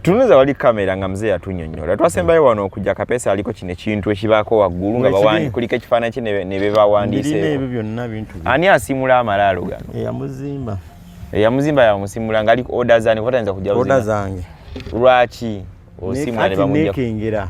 tunuza wali kamera nga mzee atunyonyola twasembayo mm. wano okujja kapesa aliko kino ekintu ekibaako waggulu nga bawandi kulika ekifaananyi kye ne bebawandiiseebyo byonna bintu ani asimula amalaalo gano eyamuzimba eyamuzimba yamusimula nga aliko oda zani kuba tayinza kujja oda zange lwaki osimula ne bamujjakengera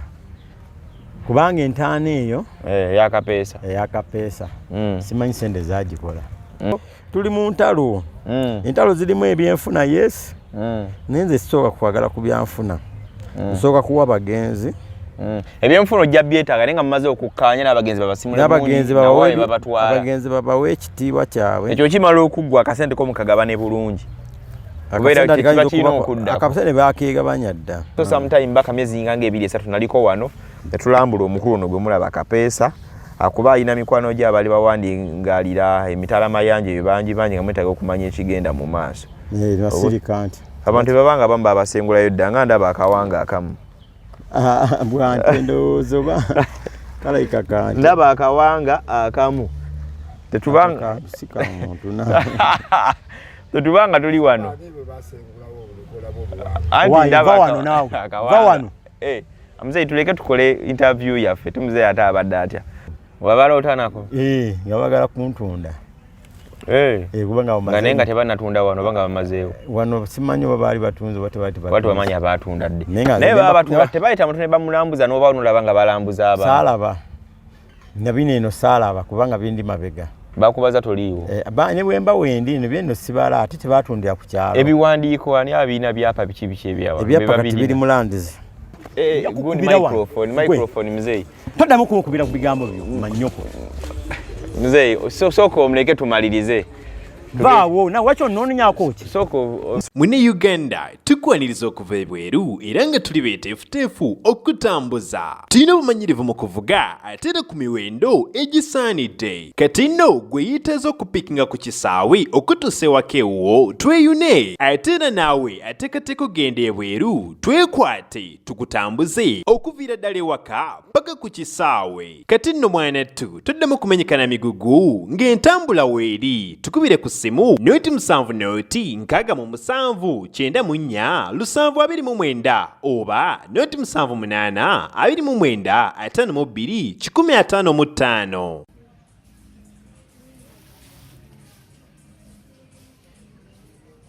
kubanga entaana eyo eh, eyakapeesa eyakapeesa mm. simanyi sente zagikola mm. tuli mu ntalo mm. entalo zirimu ebyenfuna yes mm. naye nze sisooka kwagala ku byanfuna mm. nsooka kuwa bagenzi mm. ebyenfuna ojja byetaaga naye nga mumaze okukkaanya n'abagenzi babasimuabagenzi babawa ekitiibwa kyabwe ekyo kimala okuggwa akasente ko mukagabane bulungi akasente bakeegabanya dda so sometime baka myezi nga nga ebiri esatu naliko wano Yatulambula omukulu ono gwe mulaba Kapeesa akuba alina mikwano gye abali bawandingalira emitala mayanja ebyo bangi bangi nga mwetaaga okumanya ekigenda mu maaso eh, abantu bebabanga abamu babasengulayo dda nga ndaba akawanga akamu ah, ndaba akawanga akamu tetubanga tetubanga tuli wano Hey, eh, mzee tuleke tukole interview yaffe ti mzee ate abadde atya wabala otanako hey, eh, nga bagala kuntunda hey. Eh. hey, kuba nga naye nga tebanatunda wano banga bamazeewo wano simanyi oba baali batunze oba tebati bamanya batunda ddi naye baba batunda tebayita mutu ne bamulambuza noba onolaba nga balambuza abantu salaba nabino eno saalaba kubanga bindi mabega bakubaza toliiwo eh, ne bwemba wendi nabyo eno sibala ate tebatundira ku kyalo ebiwandiiko ani abiina byapa biki biki ebyawa ebyapa kati biri mu landizi eh, toddamu kunkubira ku bigambo byo manyoko mzeeyi sooka omuleke tumalirize baawo nawe wakyo nononyako ki mune uganda tukwaniriza okuva ebweru era nga tuli beteefuteefu okutambuza tulina obumanyirivu mu kuvuga ate era ku miwendo egisaanidde kati nno gwe yiteeza okupikinga ku kisaawe okutuusa ewaka ewuwo tweyune ate era naawe ateekateeka okugenda ebweru twekwate tukutambuze okuviira ddala ewaka paka ku kisaawe kati nno mwanattu toddamu kumenyekana migugu ng'entambula weeri tukubire ku ssimu noti musanvu noti nkaaga mu musanvu kyenda mu nnya lusanvu abiri mu mwenda oba noti musanvu munaana abiri mu mwenda ataano mu bbiri kikumi ataano mu ttaano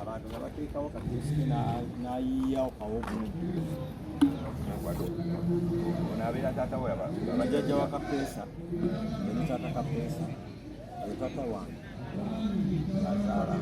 abantu nga bateekawo kateesike n'ayiiyawo kawogumu nabeera taata we abajajja wa kapeesa eri taata kapeesa ye taata wange azaala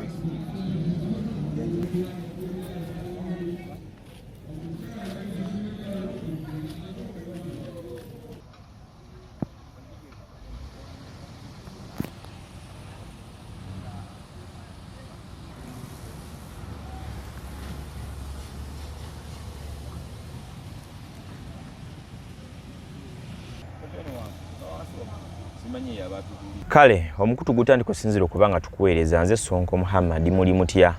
kale omukutu gutandika osinzira okuba nga tukuweereza nze sonko muhammad muli mutya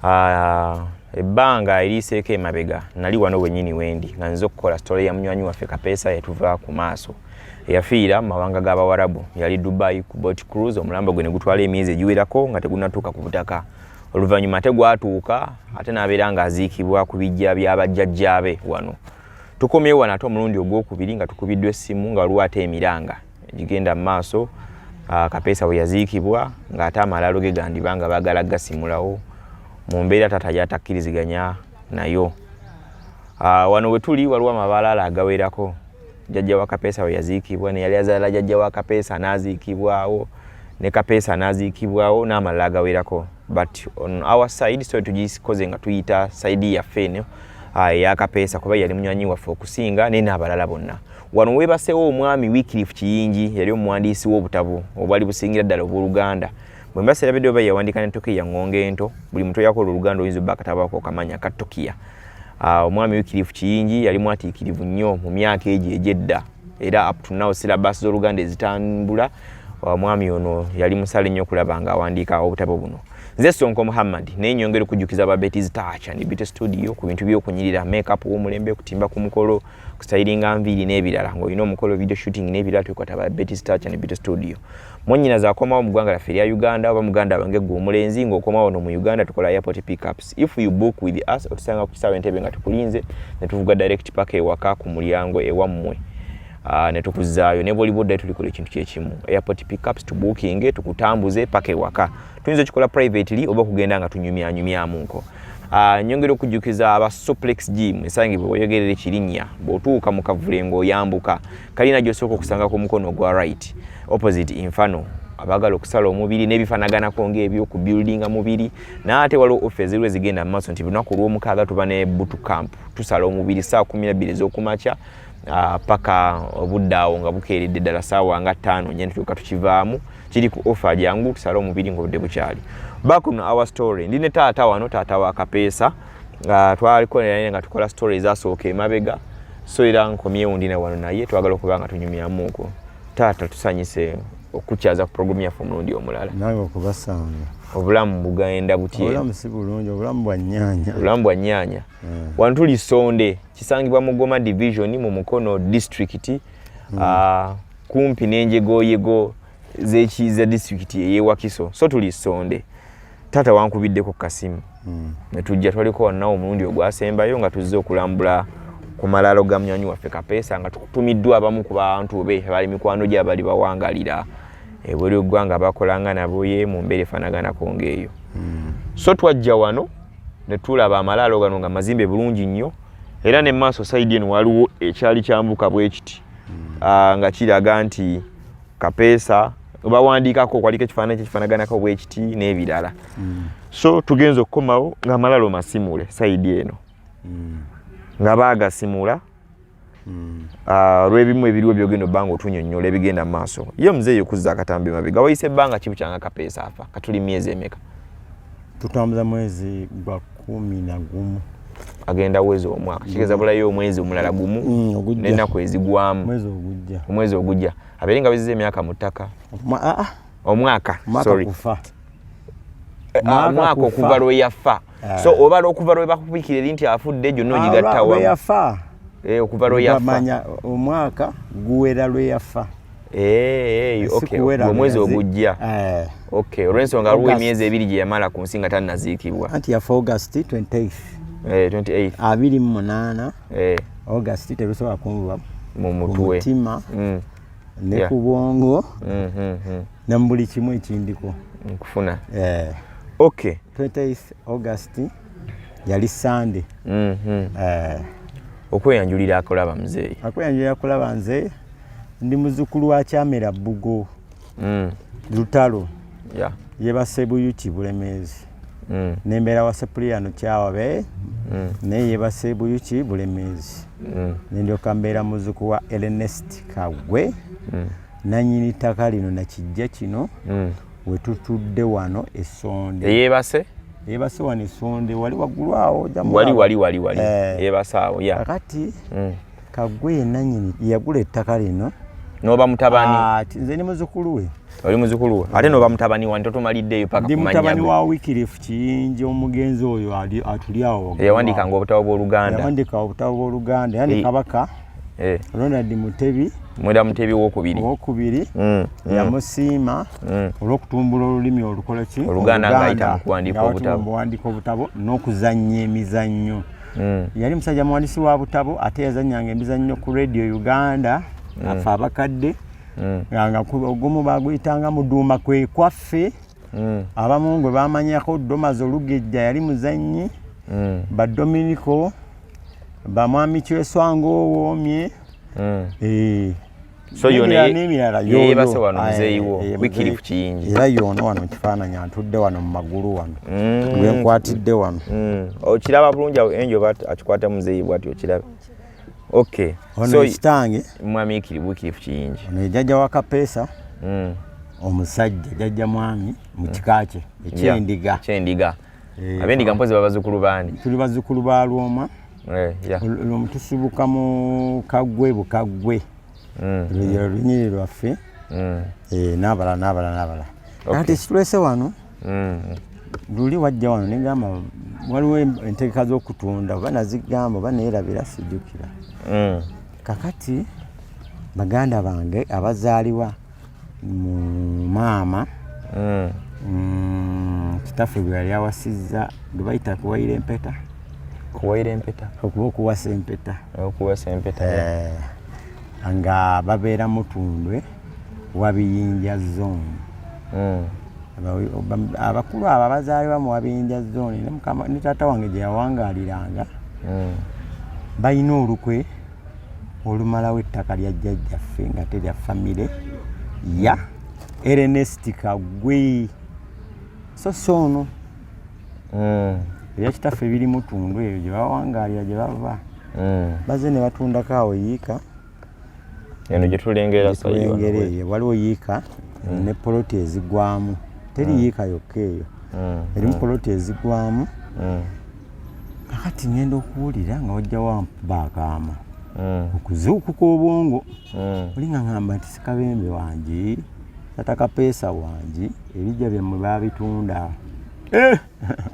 Ah, ebbanga eriiseeko emabega nali wano wenyini wendi nga nze okukola sitole ya munywanyi waffe kapeesa yatuva ku maaso eyafiira mu mawanga g'abawarabu yali dubai ku bot cruise omulambo gwe ne gutwala emyezi egiwerako nga tegunatuuka ku butaka oluvannyuma ate gwatuuka ate n'abeera ng'aziikibwa ku bijja bya bajjajjaabe wano tukomyewo wano ate omulundi ogwokubiri nga tukubiddwa essimu nga waliwo ate emiranga egigenda mu maaso ah, kapeesa bwe yaziikibwa ng'ate amalaalo ge gandiba nga baagala gasimulawo mu mbeera taata yatakkiriziganya nayo ah, wano we tuli waliwo amabalaala agawerako jajja wa kapeesa we yaziikibwa neyali azaala jajja wa kapeesa n'aziikibwawo ne kapeesa n'aziikibwawo n'amalala agawerako but on our side so tugikoze nga tuyita saidi yaffe eno ah, eya kapeesa kuba yali munywanyi waffe okusinga naye n'abalala bonna Wano weebaseewo omwami Wycliffe Kiyingi yali omuwandiisi w'obutabo obwali busingira ddala obw'oluganda bwe mba serabidde oba yawandiika ne Tokiya ng'onga ento buli muntu yakola oluganda oyinza obba akatabaako okamanya ka Tokiya ah, omwami Wycliffe Kiyingi yali mwatiikirivu nnyo mu myaka egyo egy'edda era up to now syllabus z'oluganda ezitambula omwami ah, ono yali musale nnyo okulaba ng'awandiika obutabo buno nze sonko muhammad naye nyongera okujjukiza babetizi taacha ndibite studio ku bintu byokunyirira makeup w'omulembe okutimba ku mukolo kustayiringa nviiri n'ebirala ng'olina omukolo video shooting n'ebirala twekwata ba betty stacha ne bito studio monyina zakomawo mu ggwanga laffe erya uganda oba muganda wange gwe omulenzi ng'okomawo no mu uganda tukola airport pickups if you book with us otusanga ku kisaawa entebe nga tukulinze ne tuvuga direct paka ewaka ku mulyango ewammwe ah, ne tukuzaayo ne bwoliba oddayo tulikola ekintu kyekimu airport pickups to booking tukutambuze paka ewaka tuyinza okikola privately oba okugenda nga tunyumyanyumyamu nko ah, nyongera okujjukiza aba suplex gym esangibwa weyogerera ekirinnya bw'otuuka mu kavule ng'oyambuka kalina gy'osooka okusanga ku mukono ogwa right opposite infano abagala okusala omubiri n'ebifanaganako ng'ebyoku buildinga mubiri naate waliwo offe eziriwo ezigenda mu maaso nti lunaku olw'omukaaga tuba ne butu camp tusala omubiri saa kumi nabbiri ez'okumakya ah, paka obudde awo nga bukeeredde ddala saawa nga ttaano nyantuuka tukivaamu kiri ku offer jangu tusale omubiri ngobudde bukyali back on our story ndi ne taata wano taata wa kapeesa nga twaliko naye nga tukola story ezasooka emabega so era nkomyewo ndi na wano naye twagala okuba nga tunyumyamuuko taata tusanyise okukyaza ku programu yaffe omulundi omulala nawe okubasanga obulamu bugenda butyaobulamu si bulungi obulamu bwa nyanya obulamu bwa nyanya hmm. wano tuli sonde kisangibwa mu goma division mu mukono district hmm. ah, kumpi n'enjegoyego zekiiza disitulikiti eyewakiso so tuli sonde taata wankubiddeko kasimu mm. netujja twaliko wanawo omulundi ogwasembayo nga tuzze okulambula ku malaalo ga munywanyi waffe kapeesa nga tutumiddwa abamu ku bantu be bali mikwano gye abali bawangalira ebuli ogwanga bakolanga nabo ye mu mbeera efanaganako ngaeyo mm. so twajja wano netulaba amalaalo gano nga mazimbe bulungi nnyo era ne maaso saidi eno waliwo ekyali kyambuka bwekiti mm. uh, nga kiraga nti kapeesa bawandiikako kwaliko ekifaananyi kyekifaanaganako bwekiti n'ebirala mm. so tugenza okukomawo nga malalo masimule saidi eno mm. nga baagasimula mm. ah, olwebimu ebiriwo byogenda obba nga otunyonyola ebigenda mu maaso ye omuzeeyi okuzza akatambi mabega wayise ebbanga kibu kyanga kapeesa afa katuli myezi emeka tutambuza mwezi gwa kumi na gumu agenda weza omwaka mm. kigeza bulayo omwezi omulala gumu mm, nenaku ezigwamu omwezi ogujja abeere nga beziza emyaka mu ttaka ah, ah. omwaka eh, ah, omwaka okuva lwe yafa eh. so obala okuva lwe bakubikira eri nti afudde gyonna ogigattawa eh, okuva lwe yafa omwaka guwera lwe yafa Hey, eh, okay. omwezi ogujja eh. okay. olwensonga aliwo emyezi ebiri gye yamala ku nsi nga tanaziikibwa anti yafa august 28 eh, 28 abiri mu munaana eh. august terusobola kunvuba mu mutima mm. ne yeah. ku bwongo mm -hmm. hmm. ne mu buli kimu ekindiko nkufuna eh. okay 28 august yali sande mm -hmm. uh, eh. okweyanjulira akulaba mzee akweyanjulira akulaba nze ndi muzukulu wa kyamera bugo mm. lutalo yeah. yebasebuyuki bulemezi mm. nembeera wa sepuliyano kyawabe mm. naye yebasebuyuki bulemezi mm. nendyoka mbeera muzuku wa elenest kagwe mm. nanyini ttaka lino nakijja kino mm. wetutudde wano esonde eyebase eyebase wano esonde wali waggulu awo wali wali wali wali eh. eyebase awo ya kakati mm. kagwe yenanyini yagula ettaka lino noba mutabani ah, nze ni muzukulu we oli muzukulu we ate noba mutabani wani totumaliddeeyo paka ndi mutabani wa wikirifu kiyingi omugenzi oyo atuli awo yawandikanga obutabo bwoluganda yawandika obutabo bwoluganda yani kabaka eh. Ronald Mutebi mwera Mutebi wokubiri wokubiri mm, mm. yamusiima mm. olw'okutumbula olulimi olukola ki oluganda ng'ayita mu kuwandiika obutabo buwandiika obutabo n'okuzannya emizannyo mm. yali musajja muwandiisi wa butabo ate yazannyanga emizannyo ku radio uganda mm. afe abakadde mm. nga ogumu baguyitanga muduuma kwe kwaffe mm. abamu ngwe bamanyako domazi olugejja yali muzannyi mm. badominiko bamwami kyeswanga owoomye hmm. eh. so yoneyebase wano muzeeyi wo wikiri ku kiyingi era yoona wano mu kifaananyi antudde wano mu magulu wano hmm. gwenkwatidde wano hmm. okiraba bulungi awo enjo ba akikwata muzeeyi bwati okirabe okay ono ekitange mwami ikiri wikiri ku kiyingi ono ejajja wa kapeesa omusajja jajja mwami mu kika kye ekyendiga eh, abendiga mpozi babazukulu bani tuli bazukulu ba lwoma eh, lwomu tusibuka mu kagwe bukagwe mm. luyiro lunyiri lwaffe mm. eh, nabala nabala nabala kati ekitulese wano mm. luli wajja wano negamba waliwo entegeka zokutunda oba nazigamba oba neyerabira sijukira kakati baganda bange abazaliwa mu maama mm. mm, kitaffe bwe yali awasizza gwe bayita kuwayira empeta kuwayira empeta okuba okuwasa empeta okuwasa empeta eh, nga babeera mutundwe wabiyinja zone mm. abakulu abo abazaalibwa mu wabiyinja zone ne taata wange gye yawangaaliranga balina olukwe olumalawo ettaka lya jjajjaffe nga terya famire ya erenesti kagwe so si ono hmm. ebya kitaffe biri mutundu ebyo gye bawangaalira gye bava hmm. baze ne batundako awo yiika eno gyetulengera eyo waliwo yiika hmm. ne poloti ezigwamu teri yiika yokka eyo erimu poloti ezigwamu kakati ngenda okuwulira nga wajja wampuba akaama hmm. okuzuukuka obwongo hmm. oli nga ngamba nti sikabembe wangi tata kapeesa wangi ebijja byammwe babitunda eh!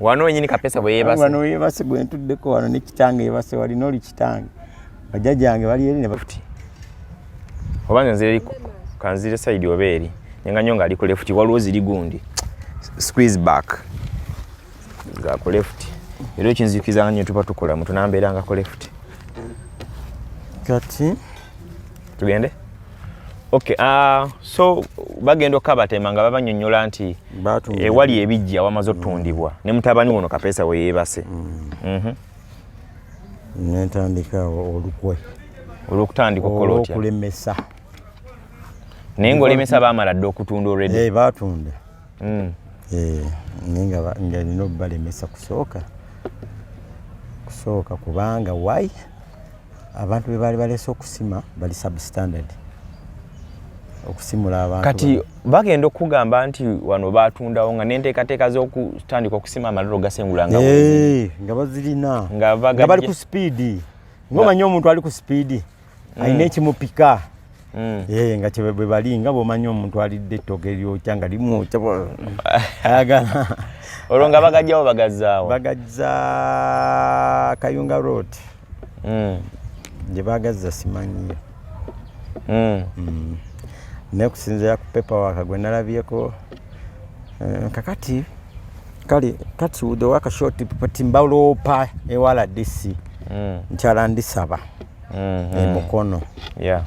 wano wenyini kapeesa bweyebasewano yebase gwentuddeko wano nekitange yebase walina oli kitange bajjajange bali eri nebafuti oba nze nziri kanzire saidi oba eri nenga nyo nga ali ku lefuti waliwo ziri gundi squeeze back nga ku left era ekinzikiza nga tuba tukola mu tunambeera nga ku left kati tugende okay uh, so bagenda okabatema nga babanyonyola nti ewali eh, ebijja wamaze otundibwa mm. ne mutabani wono kapesa we yebase mm. mm -hmm. nentandika olukwe olwokutandika okukola otya okulemesa naye ngaolemesa bamala dde okutunda olredi hey, eh, batunda mm. eh, naye nga nina obubalemesa kusooka kusooka kubanga why abantu be baali balese okusima bali substandard okusimula abantu kati bagenda okugamba nti wano batundawo nga nenteekateeka z'okutandika okusima amaliro gasengula nga eh, bazirina nga bali ku sipiidi ngomanya omuntu ali ku sipiidi mm. alina ekimupika mm. eh, nga kyebwe bali nga bwomanyi omuntu alidde ettoke lyokya nga limwokya ayagala olwo nga bagajjawo bagazzaawo bagazza kayunga road mm. gye bagazza simanyiyo naye kusinzira ku pepa waka gwe nalabyeko eh, kakati kale kati udowaka short pati mbaloopa ewala disi nkyala ndisaba mm-hmm. emukono eh,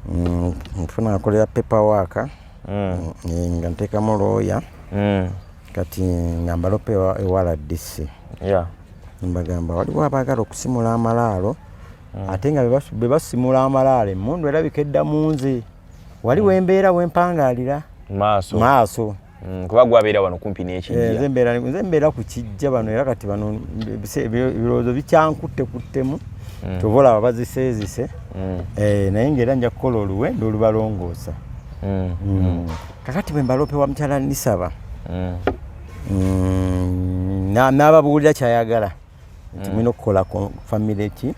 mm, nfuna akolera paper waka mm. eh, nga ntekamu looya mm. kati nga mbalopa ewala dc mbagamba waliwo abaagala okusimula amalaalo mm. ate nga bebasimula amalaalo emundu erabika edda munze waliwo embeera wempangaalira maaso Mm, kuba gwabeera wano kumpi nekijja eh, nze mbeera ku kijja bano era kati bano ebirowoozo bikyankutte kuttemu mm. kyova olaba baziseezise mm. eh, naye ngaera nja kukola oluwenda olubalongoosa kakati bwe mbaloope wa mukyala nisaba n'ababuulira kyayagala nti mm. mulina okukola ku famire ki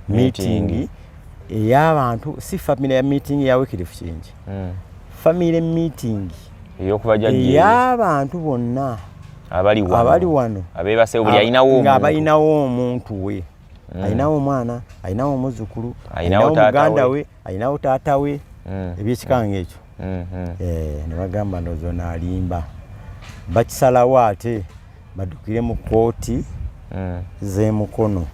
miitingi ey'abantu si famire ya miitingi ya wikirifu kingi mm. famire miitingi ey'abantu bonna abali wano ng'abalinawo omuntu we mm. alinawo omwana alinawo omuzzukulu alinawo muganda we alinawo taata we ebyekikanga ekyo mm-hmm. eh, ne bagamba ndozo nalimba bakisalawo ate badukire mu kooti mm. zemukono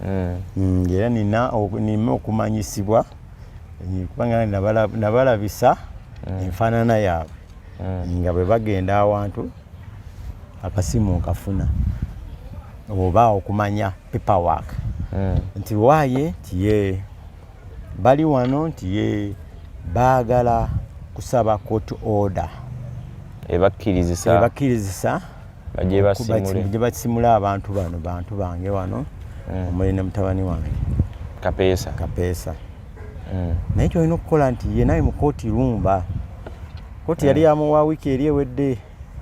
mm. mm, era nina nime okumanyisibwa eh, kubanga nabalabisa enfaanana yaabwe nga bwe bagenda awantu akasimu nkafuna oba okumanya paperwork nti waye nti yee bali wano nti ye baagala kusaba court order ebakkirizisa ebakkirizisa gye basimula abantu bano bantu bange wano mm. omuli ne mutabani wange kapeesa kapeesa mm. naye kyolina okukola nti ye naye mu kooti lumba kooti yali mm. yamuwa wiiki eri ewedde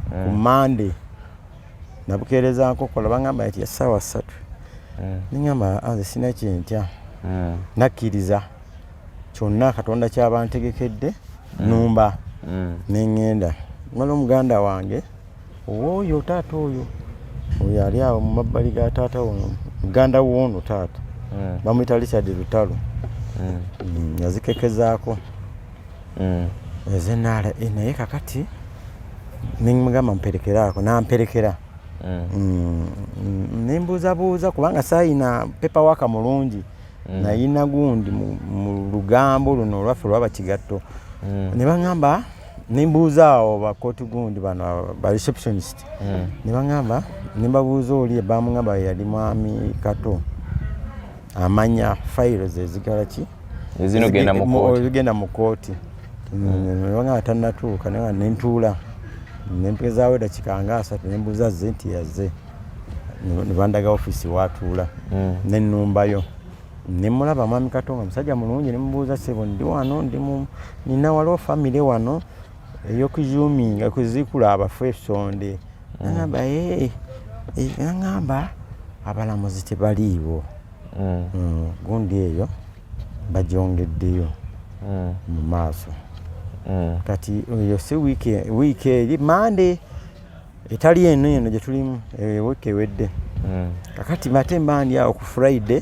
ku mande nabukeereza nkokola bangamba nti essaawa ssatu mm. nengamba anze ah, sina kyentya mm. nakkiriza kyonna katonda kyaba ntegekedde mm. numba mm. nengenda mala omuganda wange owooyo taata oyo oyo ali awo mu mabbali ga taata wono muganda woono taata mm. bamuyita richard lutalo mm. mm. yazikekezaako mm. eze nara e, naye kakati nemugamba mperekeraako namperekera mm. mm, mm nembuuzabuuza kubanga sayina pepa waka mulungi mm. nayina gundi mu lugambo luno olwaffe olwaba kigatto mm. ne baŋamba nembuuza awo bakoti gundi bano ba receptionist mm. ne baŋamba nembabuuza oli ebamuŋamba yali mwami kato amanya fayiro ze zigala ki ezigenda mu kooti nga tanatuuka naye nentuula nempezaawo edakika nga asatu nembuuza ze nti yaze nebandaga ofisi watuula mm. nenumbayo nemulaba mwami katonga musajja mulungi nemubuuza sebo ndi wano ndi nina waliwo famire wano eyokuzuminga kuzikula abafu esonde nagamba ee eh, eh, eh, nagamba abalamuzi tebaliiwo mm. mm, gundi eyo bagyongeddeyo mm. mu maaso kati eyo si wiiki eri mande etali eno eno gyetulimu wiiki ewedde kakati mate mandi awo ku friday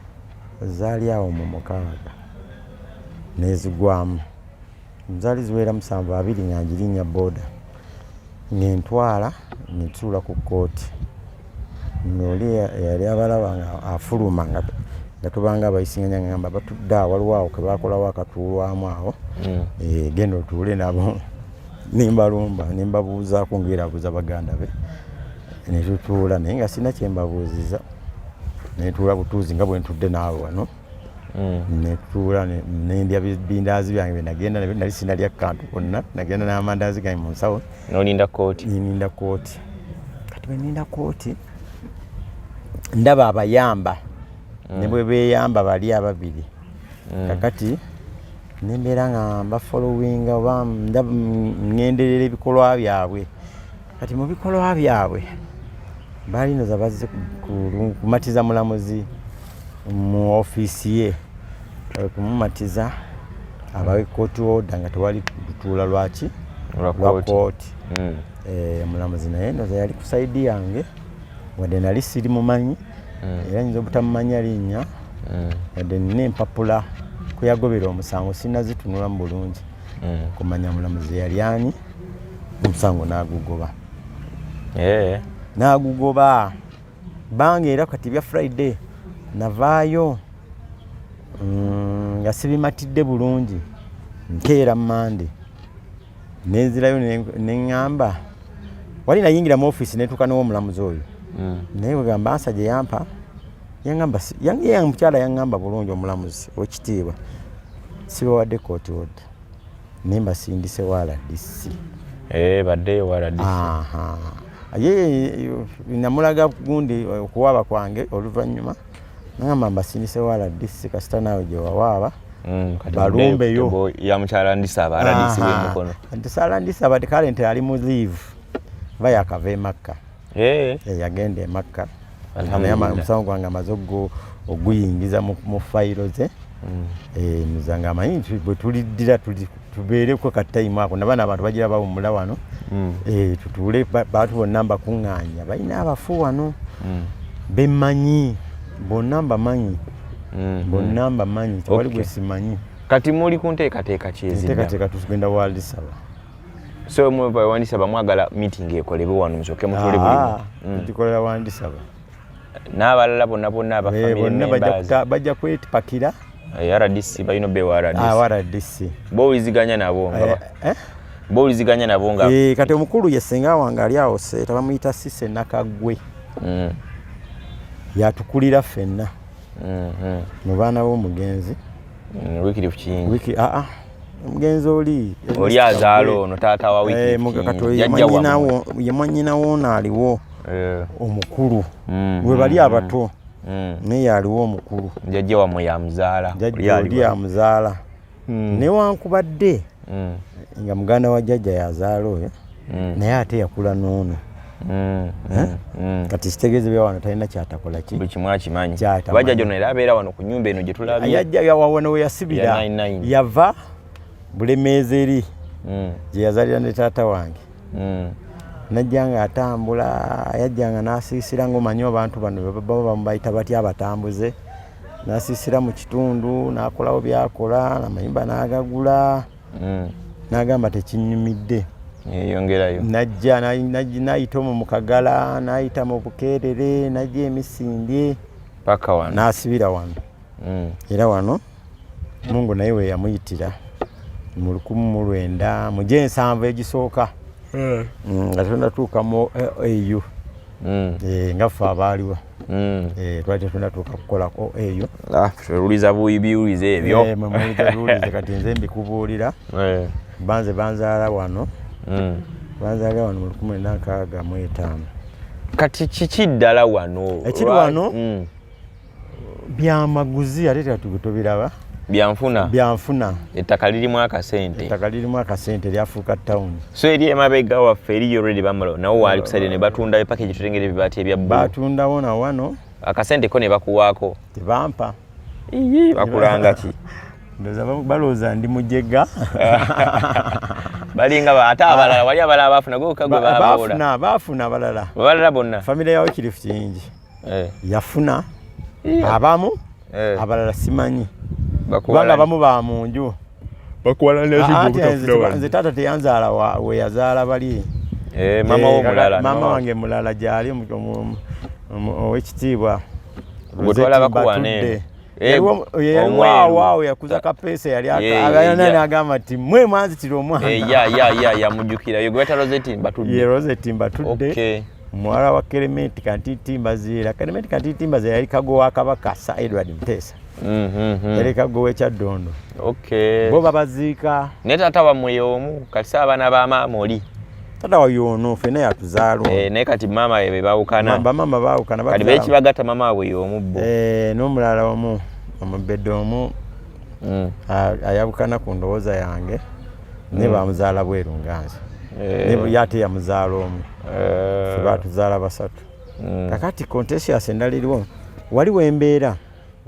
Zaali awo mu mukaaga nezigwamu zaali ziwera musanvu abiri nga njirinya boda ngentwala netuula ku kooti noli eyali abalaba nga afuluma nga nga tubanga abayisinganya ngamba batudde awo waliwo awo kebakolawo akatuulwamu awo mm. eh, genda otuule nabo nembalumba nembabuuzaako ngaerabuuza baganda be netutuula naye nga sirina kyembabuuziza netuula butuuzi nga bwentudde naawe wano mm. netuula nendya bindaazi byange byenagenda nali sinalya kantu konna nagenda n'amandaazi gange mu nsawo nolinda kooti ninda kooti kati bweninda kooti ndaba abayamba mm. ne bwe beyamba bali ababiri mm. kakati nembeera nga mbafolowinga oba ngenderera ebikolwa byabwe kati mu bikolwa byabwe balinoza bazze kumatiza mulamuzi mu ofiisi ye kumumatiza abawe kooti oda nga tewali lutuula lwaki lwa kooti hmm. eh, omulamuzi naye noza yali ku saidi yange wadde nali siri mumanyi mm. era nyinza obutamumanya linnya mm. wadde nina empapula kuyagobera omusango sinazitunulamu bulungi mm. kumanya mulamuzi yali ani omusango nagugoba eh. nagugoba banga era kati bya friday navaayo nga sibimatidde bulungi nkeera mande nenzirayo neŋŋamba wali nayingira mu ofiisi netuuka newomulamuzi oyo hmm. naye wegamba ansa gye yampa yaŋamba mukyala yaŋŋamba bulungi omulamuzi wekitiibwa sibawadde kooti odda naye mbasindise waladisi eh, baddeyo waladisi ye namulaga gundi okuwaaba kwange oluvannyuma nagamba mbasindise wa rdc kasita naawe gyewawaaba mm, balumbeyo yamukyala ndisaba rdc wemukono ntisala ndisaba kale nti ali mu leave va yakava emakka eh. Eh, yagenda emakka omusango gwange amaze oguyingiza mu fayiro ze mm. eh, muzange amanyi bwetuliddira tuli tubeereko ka time ako nabana abantu bagira bawumula wano mm. e, tutuule bantu bonna mbakuŋŋaanya balina abafu wano mm. bemanyi bonna mbamanyi mm -hmm. bonna mbamanyi tewali okay. gwe simanyi kati muli ku nteekateeka kyezinteekateeka tugenda waldisaba so mweva wandisaba mwagala meeting ekolebwe wano musoke mutule buli ah, mm. tukolera wandisaba n'abalala bonna bonna abafamire eh, bonna bajja kwetipakira Eh, rdc balina obewa rdc ah, bowuliziganya nabo eh, eh? bowuliziganya nabo nga kati omukulu ye senga wange ali awo seeta bamuyita sise nakagwe mm. yatukulira fenna mm-hmm. mu baana b'omugenzi mm, wikiri kukiyingi aa ah, ah. omugenzi oli oli azaala ono taata wa wikiyemwanyinawo ono aliwo omukulu mm, webali abato mm. naye aliwo omukulu jajja wamwe yamuzaala jajjaoli yamuzaala mm. newankubadde mm. nga muganda wa jajja yazaala oyo mm. naye ate yakula noono Mm, mm, eh? mm. kati kitegeeza bya wano talina kyatakola ki buli kimu akimanyi bajja gyona era abeera wano ku nyumba eno gye tulabyeyawawana we yasibira yava bulemeezi eri mm. gye yazalira ne taata wange mm. najja nga atambula yajja nga nasiisira ngaomanyi abantu bano baba bamubayita batya abatambuze nasiisira mu kitundu nakolawo byakola namayumba nagagula mm. nagamba tekinyumidde eyongerayo najja nayita omu mukagala nayita mu bukeerere najja emisindye paka wano nasibira wano mm. era wano mungu naye weyamuyitira mu lukumu mu lwenda mu gyensanvu egisooka eh. mm, nga tonatuuka mu eh, au mm. eh, nga ffe abaaliwo mm. twali tetunatuuka kukolako au ah, oluliza biwuliza ebyo biwuliza kati nze mbikubuulira banze banzaala wano banzaala wano mu lukumu lwenda nkaaga mu etaano kati kiki ddala wano ekiri wano byamaguzi ate tubiraba byanfuna byanfuna ettaka lirimu akasente ettaka lirimu akasente lyafuuka town so eri emabega waffe eriyo already bamalo nawo waali kusaide ne batundayo paka ekyo tulengera ebibaati ebya bbulu batundawo na wano akasente ko ne bakuwaako tebampa iyi bakulanga ki ndoza balooza ndi mujega balinga ba ate abalala wali abalala baafuna gwe okagwe baafuna baafuna abalala abalala bonna famire yawo kirifu kingi eh. yafuna yeah. abamu eh. abalala simanyi kubanga abamu ba mu nju nze taata teyanzaala weyazaala bali eh, eh, maama wange mulala gyali owekitiibwa yaliwawaawo eh, yakuza kapeesa yali abayana nagamba ti mwe mwanzitira omwana yamujukira yogweta rosetimba tudde muwala wa kerementi kantitimba ziira kerementi kantitimba ziira yali kago wa kabaka sa edward muteesa mm-hmm. yali kago wekyaddondo bo babaziika naye taata wamwe yomu kati sa abaana ba maama oli tata wayo ono fena yatuzaalo eh, naye kati maama be bawukana bamaama bawukana kati bekibagatta maama wabwe yomu bo eh, n'omulala omu omubedde omu mm. ayabukana ku ndowooza yange naye mm. bamuzaala bweru nga nze eh. naye ate yamuzaala omu eh. febatuzaala basatu mm. kakati contesius endala eriwo wali wembeera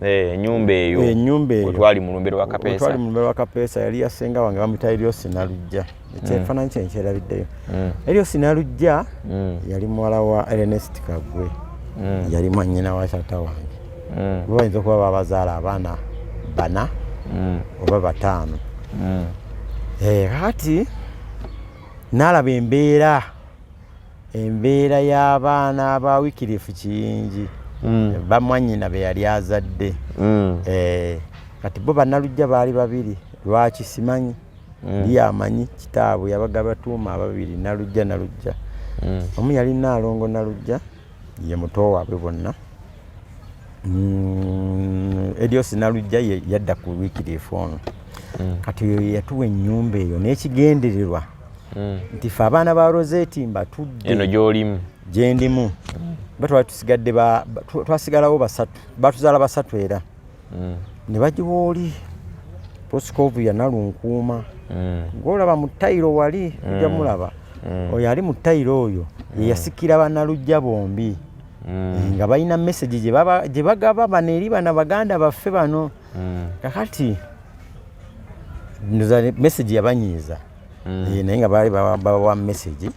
eh, enyumba eyo enyumba eyo twali mulumbero wa kapesa twali mulumbero wa kapesa yali yasenga wange bamuyita Elios Nalujja ekyefananyi mm. kye nkyerabiddeyo Elios Nalujja yali muwala wa Ernest Kagwe yali mwanyina wa tata wange mm. kuba bayinza okuba babazaala abaana bana mm. oba bataano mm. eh, kati nalaba embeera embeera y'abaana ba wikirifu kiyingi mm. bamwanyina be yali azadde mm. eh, kati bo banalujja baali babiri lwaki simanyi mm. ye amanyi kitaabwe yabaga batuuma ababiri nalujja nalujja mm. omu yali naalongo nalujja ye muto waabwe bonna mm, edio sinalujja yadda ku wikirifu ono mm. kati oyo yatuwa enyumba eyo n'ekigendererwa mm. nti fe abaana ba roseti mbatudde eno gyolimu gyendimu batwali tusigadde twasigalawo basatu batuzaala basatu era mm. ne bagiwa oli proscovu yanalunkuuma mm. ngolaba mu tayiro wali mm. ojja mulaba mm. oyo ali mu tayiro oyo mm. yeyasikira banalujja bombi mm. nga balina message gye bagaba bano eri bana baganda baffe bano mm. kakati message yabanyiiza mm. naye nga baali bawa message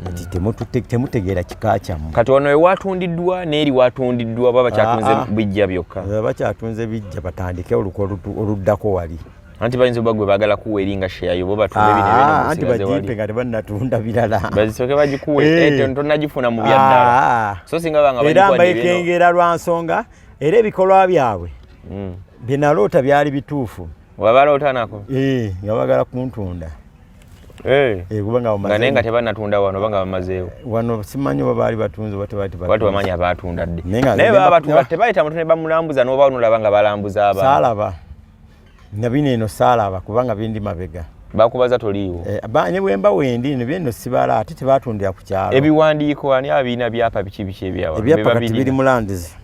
kati temutegeera kika kyammwe kati wano ewatundiddwa neeri watundiddwa oba bakyatunze ah, ah. bijja byokka eh, bakyatunze bijja batandike oluka oluddako wali anti bayinza oba gwe bagala kuwa eringa sheyayo bo batunde bino ah, anti bajipe nga tebannatunda birala bazisoke bagikuwe eh. eh, tonagifuna mu byaddala so singa banga era mbaekengera lwa nsonga era ebikolwa byabwe hmm. byenaloota byali bituufu wabaloota nako nga bagala kuntunda Eh. Eh, nga naye nga tebanatunda wano oba nga bamazeewo eh, wano simanyi oba baali batunze oba tebamanyi abatunda dde naye baba batunda tebayita muntu ne bamulambuza noba onolaba nga balambuza aba saalaba nga bino eno saalaba kubanga bindi mabega bakubaza toliiwo ne bwemba wendi no byeno sibala ate tebatundira ku kyalo ebiwandiiko ani abiina byapa biki biki ebyawa ebyapa kati biri mulandizi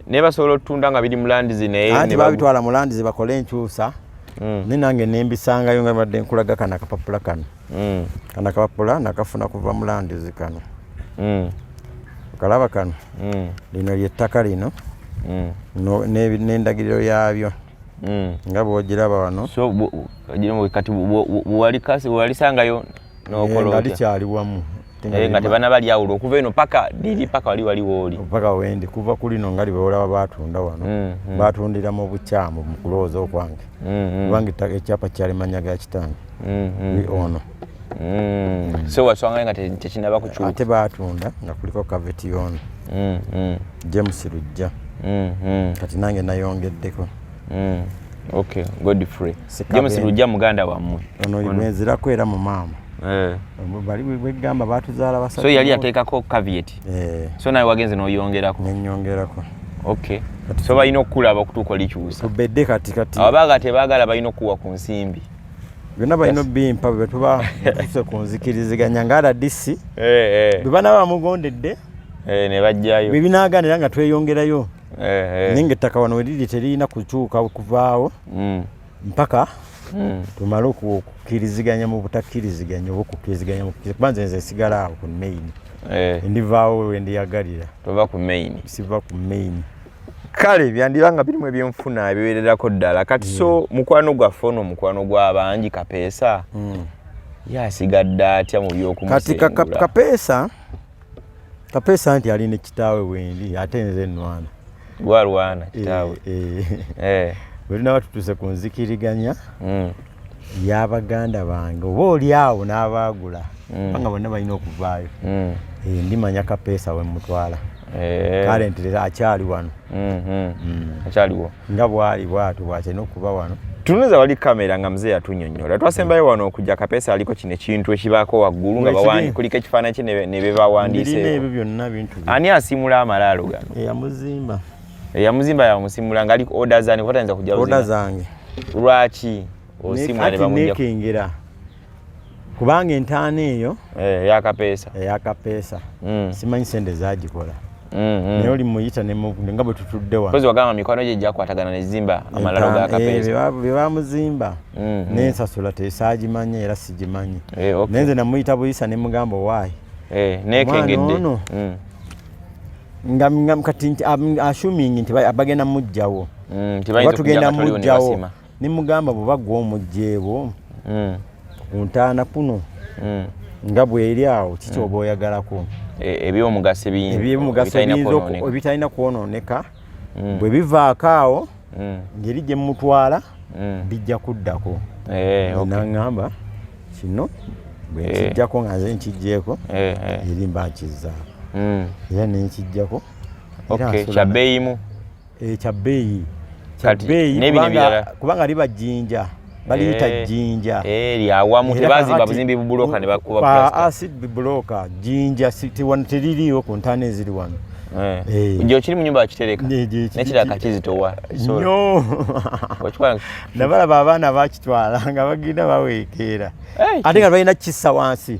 naye basobola otutunda nga biri mulandizi nayeanti babitwala mulandizi bakole enkyusa mm. naye nange nembisangayo nga badde nkulaga kana akapapula kano mm. kana akapapula nakafuna kuva mulandizi kano mm. kalaba kano mm. lino lyettaka lino mm. nendagiriro no, yabyo mm. nga bwogiraba wano so, bu, bu, kati bwewalisangayo nga likyali wamu eh, nga tebana bali awulo okuva eno paka diri paka wali wali woli paka wendi kuva kuli no ngali bewola batunda wano mm, mm. batundira mu buchamu mu kuloza okwange mm, mm. kubangi ta ekyapa kyali manya ga kitange mm, mm. ni ono mm. mm. so waswanga nga tekinaba kuchu ate batunda nga kuliko kaveti yono mm, mm. James Rujja mm, mm. kati nange nayongeddeko mm. Okay, Godfrey. James Lujja muganda wammwe. Ono yimezirako era mu maama. Eh. Bali bwegamba batuzaala basatu. So yali ateekako caveat. Eh. So nawe wagenze n'oyongerako. Nenyongerako. Okay. So balina okukulaba okutuuka olikyusa. Tubedde kati kati. Ababaga tebaagala balina okuwa ku nsimbi. byonna balina obimpa bwe tuba tuse ku nzikiriziganya nga rdc eh, eh. bwe bana bamugondedde eh, ne bajjayo bwe binaaganira nga tweyongerayo naye nga ettaka wano weriri teririna kukyuka kuvaawo mm. mpaka mm. tumale okukkiriziganya mu butakkiriziganya oba okukkiriziganya kuba nze nze sigala awo ku main eh. ndivaawo wendiyagalira tova ku main siva ku main kale byandiba nga birimu ebyenfuna ebiwererako ddala kati so mm. mukwano gwaffe ono omukwano gwabangi kapeesa yasigadde atya mu byokumusengurakati kapeesa Kapesa nti ali ne kitaawe wendi ate nze nnwana. Gwalwana kitaawe. Eh. eh. eh. Bwe tunaba tutuuse ku nzikiriganya mm. ya baganda bange oba oli awo n'abaagula mm. banga bonna balina okuvaayo mm. eh, ndimanya kapeesa we mutwala eh. kale nti akyali wano mm-hmm. mm. akyaliwo nga bwali bwatu bwatena okuba wano tunuza wali kamera nga mzee atunyonyola twasembayo wano okuja kapesa aliko kino ekintu ekibaako waggulu nga bawandi kuliko ekifaananyi kye nebebawandiseani asimula amalaalo gano eyamuzimba eyamuzimba yamusimula nga aliko oda zani kubatayinza kuja oda zange lwaki osimula nebamujja kubanga entaana eyo eh, eyakapeesa eyakapeesa mm. simanyi sente zagikola mm, mm. naye oli muyita nga bwe tutudde wagamba mikwano gye gyakwatagana nezimba amalalo gakapeesabebamuzimba eh, mm, nensasula tesaagimanya era sigimanyi eh, naye nze namuyita buyisa ne mugamba owaayi nekengedde ono nga kati asuming nti bagenda mujjawo oba tugenda mujjawo nemugamba bweba gwe omugyeebo mm. kuntaana kuno mm. nga bweri awo kiki oba mm. oyagalako e, ebyomugaso ebyomugaso ebitalina kwononeka bwe bivaako awo ngeri gye mumutwala bijja kuddako eh, naŋamba kino bwenkijjako eh. nga nze nkijjeeko eh, eri mba nkizzaako era nenkijjako kyabeeyimu eh, kyabbeeyi kyabbeeyi kubanga liba jjinja baliyita eh, jjinja eh, lyawamu tebazimba buzimbi bubuloka ne bakuba acid bubuloka jjinja teririiwo ku ntaana eziri wano nje okiri mu nyumba akitereka nekira kakizitowa nyo nabalaba abaana bakitwala nga bagenda baweekeera ate nga balina kissa wansi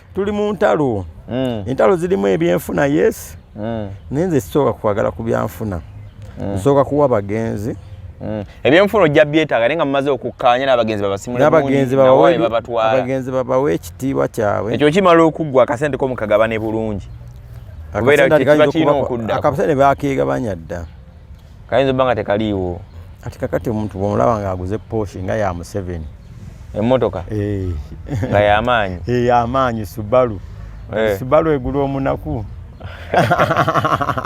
tuli mu ntalo mm. entalo zirimu ebyenfuna yes mm. naye nze sisooka kwagala ku byanfuna mm. nsooka kuwa bagenzi mm. ebyenfuna ojja byetaaga naye nga mumaze okukkaanya n'abagenzi babasimulabagenzi babawa ekitiibwa kyabwe ekyo kimala okuggwa akasente ko mukagabane bulungi akabusa ne bakegabanya dda kayinza obba nga tekaliiwo kati kakati omuntu bwomulaba nga aguze poshi nga ya museveni emotoka eh. nga yamaanyi eh, yamaanyi subalu eh. subalu egula omunaku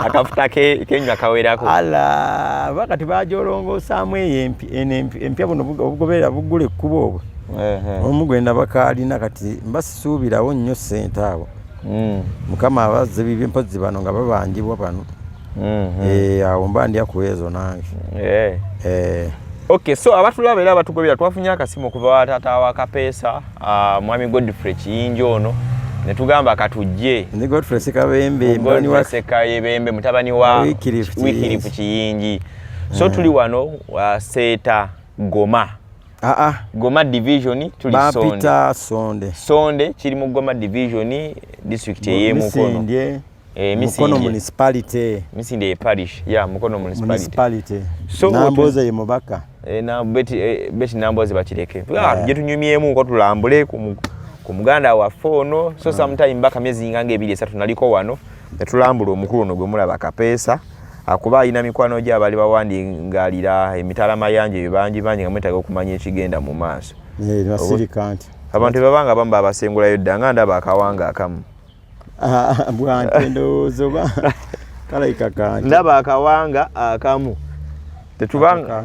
akafuta kenywa kawerako ala ba kati bajolongosaamu eyo empya buno obugoberera bugula ekkuba obwo omu gwenda bakaalina kati mbasisuubirawo nnyo ssente abo hmm. mukama abazze bibye mpozi bano nga babanjibwa bano mm-hmm. eh, awo mba ndya ku ezo nange eh. Eh. ok so abatulaba era abatugobera twafunye akasimu okuva watata wa kapeesa ah, mwami godfrey kiyinja ono netugamba katujje sekayebembe mutabani wa wikirifu kiyingi so tuli wano ah, seeta goma Ah, ah. Goma division tuli sonde. Sonde. Sonde kiri mu Goma division district eye mukono. Eh, mukono municipality misinde parish ya mukono municipality so namboze ye mubaka eh, na beti eh, beti namboze bakireke ah, tuje tunyumyemu ko tulambule ku muganda wa fono so ah. sometime mbaka miezi ngange ebili esatu naliko wano tulambule omukulu no gwemulaba kapesa akuba ah, alina mikwano gye abali bawandi ngalira emitala mayanje bibanji banji nga mwetaga okumanya ekigenda mu maaso abantu bebabanga bamba abasengulayo dda nga ndaba akawanga akamu bwante ndowooza oba kalaika kante ndaba akawanga akamu tetubanga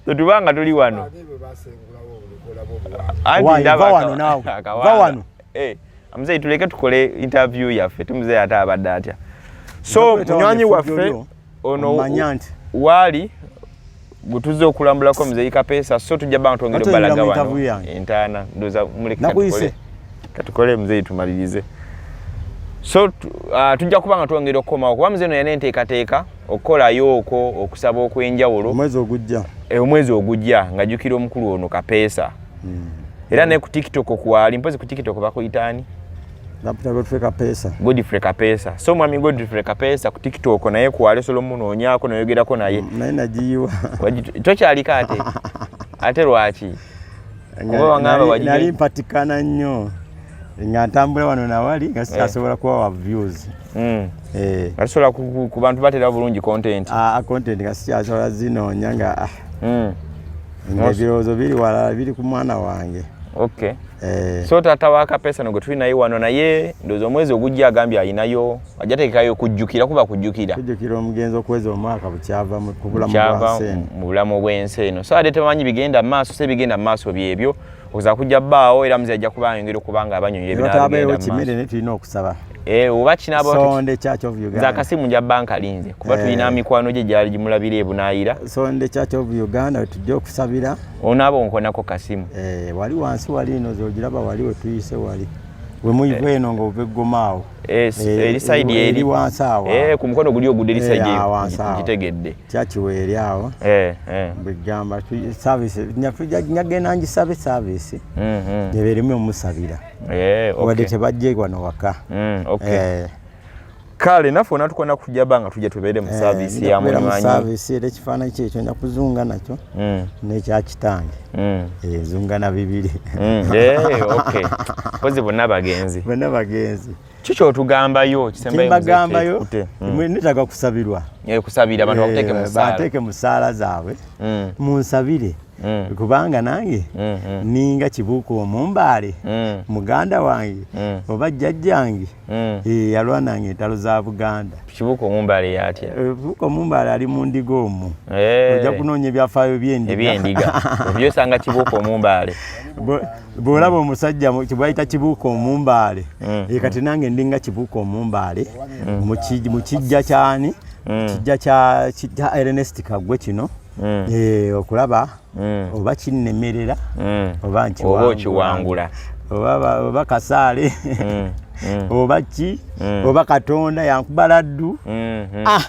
tetubanga tuli wano wano eh, mzee tuleke tukole interview yaffe tumzee ate abadde atya so munywanyi waffe ono manya nti wali gutuze okulambulako mzeyi kapesa so tujja banga twongere balaga wano entana ndoza muli katukole katukole mzeyi tumalirize so uh, tujja kuba nga twongera okukoma okuba mzee no yanenteekateeka okukolayo okwo okusaba okwenjawulo omwezi ogujja e, omwezi ogujja nga jukira omukulu ono kapeesa mm. era ne ku tiktok kwali mpozi ku tiktok bakuyitaani Nampita Godfrey Kapesa. Godfrey Kapesa. So mwami Godfrey Kapesa ku TikTok naye ku Aleso lo muno onyako noyogera ko naye. Mm, naye najiwa. To kyali kate. Ate lwaki? Ngoba wangaba wajiwa. Nali mpatikana nnyo. Nga ntambula wano na wali nga sikasobola eh. kuwa wa views. Mm. Eh. Asobola ku, ku bantu batera bulungi content. Ah, content nga sikyasobola zino nyanga. Ah. Mm. Nga birowoozo biri wala biri ku mwana wange. Okay. Eh. so taata wa kapesa no gwe tuli naye wano naye ndowooza omwezi ogujja agambye alinayo ajja teekayo kujjukira kuba kujjukira kujjukira omugenzi okuweza omwaka bukyava mu bulamu bw'ensi eno so ate tebamanyi bigenda mu maaso se bigenda mu maaso byebyo okuza kujja baawo era muzi ajja kuba ayongera okuba nga abanyonyera ebinaabigenda kimere naye tulina okusaba eh, oba kinabaakasimu nja banka linze kuba tulina eh. mikwano gye gyali gimulabira ebunaayira sonde church of uganda tujja okusabira Ono abo nkonako kasimu. Eh, wali wansi wali ino zojiraba wali wetuyise wali. We muivu eh. eno ngo ve gomao. Yes, eh, eh, eri side eri. Eri wansi awa. Eh, ku mkono guli ogude eri eh, side eri. Jitegedde. Chachi we eri awa. Eh, eh. Bigamba tu service. Nyafuja nyage nanji service service. Mhm. Mm Nyeverime musabira. Eh, okay. Wade tebajje kwa no waka. Mhm, mm, okay. Eh. kale naffe ona tukona kujja banga tujja tubeere mu eh, saavisi ya mulimanyi saavisi era ekifaananyi kyekyo nja kuzunga nakyo hmm. n'ekya kitange hmm. eh, zunga na bibiri hmm. eh, kozi bonna bagenzi bonna bagenzi kikyotugambayo kisembagambayo netaga kusabirwa kusabira abantu bakuteeke musaala zaabwe munsabire mm. mm. kubanga nange mm, mm. ninga kibuuka omumbaale mm. muganda wange mm. oba jjajjange mm. e, yalwananga entalo za buganda kibuuka omumbaale yatya eh, kibuuka omumbaale ali mu ndiga omu hey. Eh. ojja kunoonya ebyafaayo byendigaebyendiga obyosanga kibuuka omumbaale bwolaba omusajja kibwayita kibuuka omumbaale mm. e, kati nange ndinga kibuuka omumbaale mm. mu kijja kyani mm. kijja kya Ernest Kagwe kino mm. eh, okulaba mm. oba kinnemerera mm. oba nkiwangula oba kasaale mm. mm. oba ki mm. oba katonda yankubala ddu mm -hmm. ah.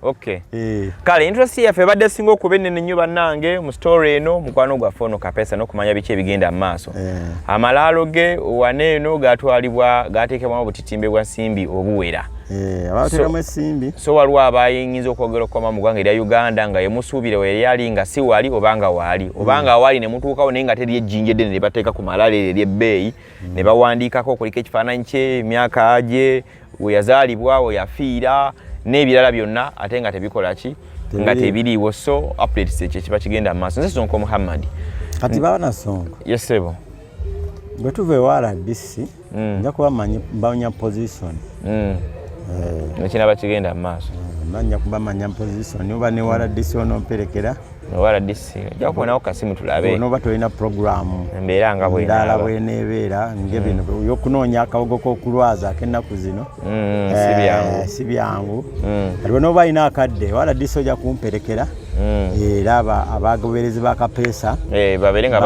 Okay. Eh. Kale interest yaffe ebadde singa okuba ennene nnyo bannange mu story eno mukwano gwaffe ono kapesa n'okumanya biki ebigenda mu maaso. Eh. Amalaalo ge wane eno gaatwalibwa gaateekebwamu obutitimbe bwa simbi obuwera. Eh, abatekamu esimbi so waliwo abayinza okwogera okukoma mu ggwanga erya uganda nga yemusuubire weyali ali nga si wali obanga waali obanga hmm. waali nemutuukawo naye nga teri ejjinja eddene nebateeka ku malala eryo eryebbeeyi hmm. ne bawandiikako okuliko ekifaananyi kye emyaka gye weyazaalibwa weyafiira n'ebirala byonna ate nga tebikola ki nga tebiriiwo so updates ekyo kiba kigenda mu maaso nze sonko muhammadi kati baana sonko yesebo bwe tuva ewa rbc mm. nja kuba manyi bawunya position mm. eh. ekinaba kigenda mu maaso mm, nanya kuba manya position oba ne waradisi onomperekera waradisi jakubonawo kasimu tulabe onoba tolina programu embeera nga bwendala bwenebeera ngebino mm. yokunoonya akawogo kokulwaza akenaku zino mm, eh, si byangu aliwo noba alina akadde waradisi oja kumperekera mm. eh, era abagoberezi ba kapeesa eh, babeere nga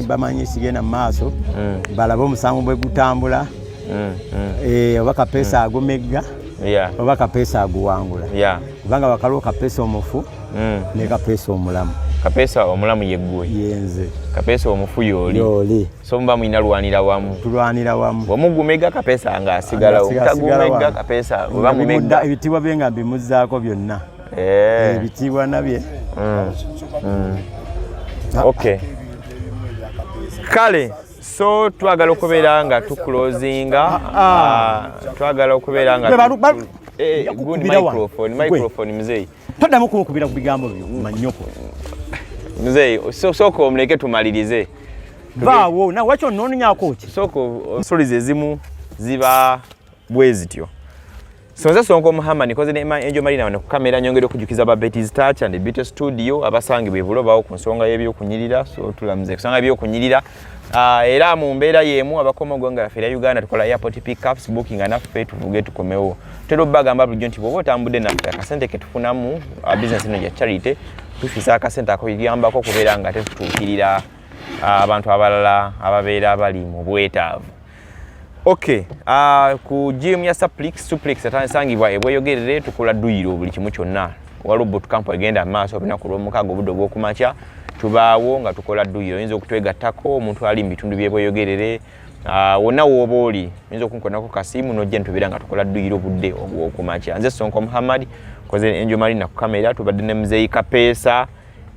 bamanyi ekigenda mu maaso mm. balabe omusango bwe gutambula mm, eh, oba kapeesa agumegga oba kapeesa aguwangula kubanga bakaliwo kapeesa omufu ne kapeesa omulamu kapeesa omulamu yeggwe yenze kapeesa omufu yooli so muba mulina lwanira wamu tulwanira wamu bwemugumega kapeesa nga asigalawo mutagumega kapeesa ebitibwa bye nga mbimuzzaako byonna eh. ebitiibwa nabye mm. Mm. okay kale so twagala okubeera nga tukulozinga ah, ah. Ah, twagala okubeera nga eh, microphone mzeyi toddamu kunkubira ku bigambo byo manyoko mzeyi sooka omuleke tumalirize baawo nawe wakyo nononyako ki sooka ensoli zezimu ziba bwezityo sonze songa omuhama nikoze ne enjo marina wano kukamera nyongere okujukiza ba beti zitacha ndi bite studio abasangi bevulo bawo ku nsonga yebyo kunyirira so tulamze kusanga yebyo kunyirira uh, era mu mbeera yemu abakoma ogwanga laffe era uganda tukola airport pickups booking anaffe tuvuge tukomewo tera obagamba bulijjo nti bwoba otambudde naffe akasente ketufunamu uh, business ino gya charity tufisa akasente akuyambako okubeera nga tetutuukirira uh, abantu abalala ababeera bali mu bwetaavu Okay, uh, ku gym ya suplex suplex atansangibwa ebweyogerere tukola duyiro buli kimu kyonna waliwo boot camp egenda amaaso olunaku lwomukaaga obudde obwokumakya tubaawo nga tukola duyiro oyinza okutwegattako omuntu ali mu bitundu byebweyogerere uh, wonna wooba oli oyinza okunkonako kasiimu nojja nitubeera nga tukola duyiro obudde obwokumakya nze sonko muhammad koze enjo malina ku kamera tubadde ne muzeeyi kapeesa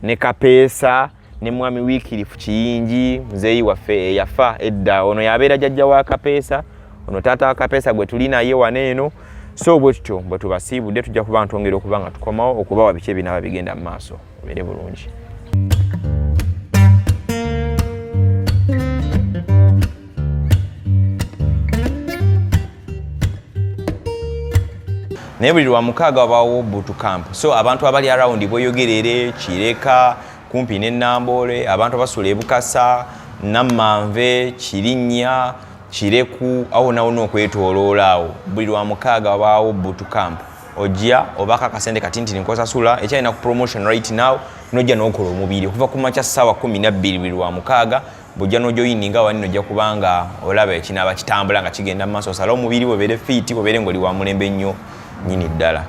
ne kapeesa ne mwami wikirifu kiyingi muzeeyi waffe eyafa edda ono yabeera jajja wa kapeesa ono taata wa kapeesa gwe tuli naye wana eno so bwe tutyo bwe tubasiibudde tujja kuba ntwongera okuba nga tukomawo okubawa biki ebinaaba bigenda mu maaso obeere bulungi naye buli lwa mukaaga wabaawo butu camp so abantu abali arawundi bweyogerere kireka kumpi ne Namboole abantu abasula ebukasa Nammanve Kirinnya Kireku awo nawo nokwetooloola awo buli lwa mukaaga wabaawo butu camp ojja obaka akasente kati nti nkosasula ekyalina ku promotion right now nojja nokola omubiri okuva ku makya ssaawa kumi nabbiri buli lwa mukaaga bwojja nojoyininga wani nojja kubanga olaba ekinaaba kitambula nga kigenda mu maaso osala omubiri webeere fiiti webeere ngaoli wa mulembe nnyo nyini ddala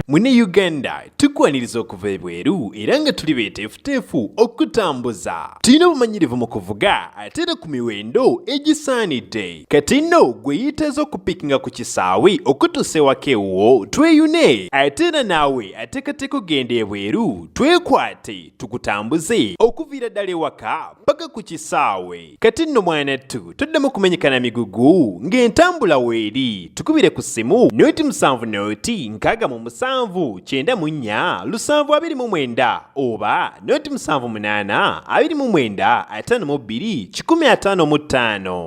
mune uganda tukwaniriza okuva ebweru era nga tuli beteefuteefu okutambuza tulina obumanyirivu mu kuvuga ate era ku miwendo egisaanidde kati nno gwe yiteeza okupikinga ku kisaawe okutuusa ewaka ewuwo tweyune ate era naawe ateekateeka okugenda ebweru twekwate tukutambuze okuviira ddala ewaka paka ku kisaawe kati nno mwana ttu toddamu kumenyekana migugu ng'entambula weeri tukubire ku ssimu noti musanvu noti nkaaga mu musanvu kyenda mu nnya lusanvu abiri mu mwenda oba noti musanvu munaana abiri mu mwenda ataano mu bbiri kikumi ataano mu ttaano